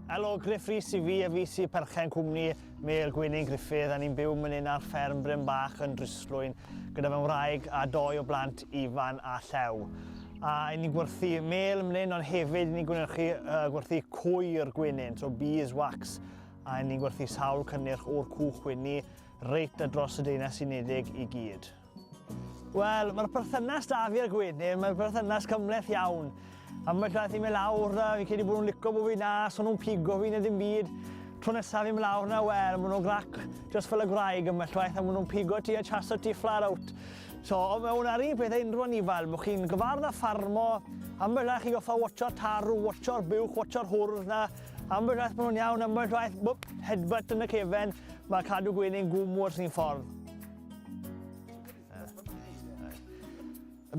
Helo, Griff Rhys i fi a fi sy'n perchen cwmni Mel Gwenyn Griffith a ni'n byw mynydd ar fferm Bryn Bach yn Dryslwyn gyda fy wraig a doi o blant Ifan a Llew. A ni'n gwerthu mel mynydd ond hefyd ni'n gwnyrchu uh, gwerthu cwyr gwenyn, so bees wax a ni'n gwerthu sawl cynnyrch o'r cwch wynni reit a dros y Deunau Unedig i gyd. Wel, mae'r perthynas da fi a'r gwenyn, mae'n perthynas cymleth iawn. Ambell waith i mi lawr na, fi'n credu bod nhw'n licio bod fi na, so nhw'n pigo fi neu ddim byd. Tro nesaf i mi lawr na, wel, maen nhw'n grac just fel y gwraig ambell waith, a maen nhw'n pigo ti a chaso ti flat out. So, o mewn ar un peth a unrhyw anifal, mwch chi'n gyfardd a ffarmo, ambell waith chi goffa watcho'r tarw, watcho'r buwch, watcho'r hwrdd na, ambell waith maen nhw'n iawn, ambell waith, bwp, headbutt yn y cefen, mae cadw gwenyn gwmwrs ni'n ffordd.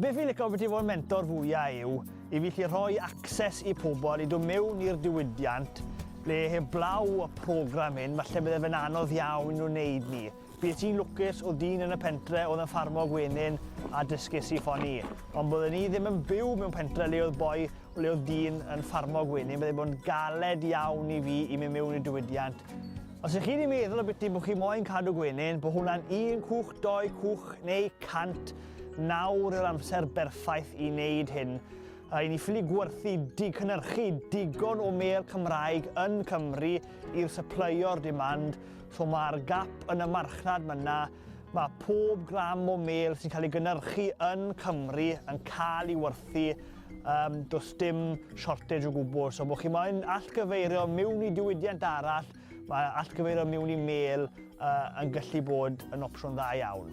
Be fi'n licio beth i fod yn mentor fwyaf yw i fi chi rhoi access i pobl i dod mewn i'r diwydiant le heblaw y program hyn, falle bydde fe'n anodd iawn nhw'n neud ni. Bydd ti'n lwcus o dyn yn y pentre oedd yn ffarmo gwenyn a dysgus i ffoni. Ond byddwn ni ddim yn byw mewn pentre le oedd boi ble oedd dyn yn ffarmo gwenyn, byddai bod yn galed iawn i fi i mi mewn i'r diwydiant. Os ych chi wedi meddwl o biti bod chi moyn cadw gwenyn, bod hwnna'n un cwch, doi cwch neu cant, nawr yw'r amser berffaith i wneud hyn. Rhaid ni ffili gwerthu dicynnyrchu digon o mêl Cymraeg yn Cymru i'r syplyio'r demand, so mae'r gap yn y marchnad myna, mae pob gram o mêl sy'n cael ei gynnyrchu yn Cymru yn cael ei werthu Um, does dim shortage o gwbl, so bod chi moyn allgyfeirio mewn i diwydiant arall, mae allgyfeirio mewn i mail uh, yn gallu bod yn opsiwn dda iawn.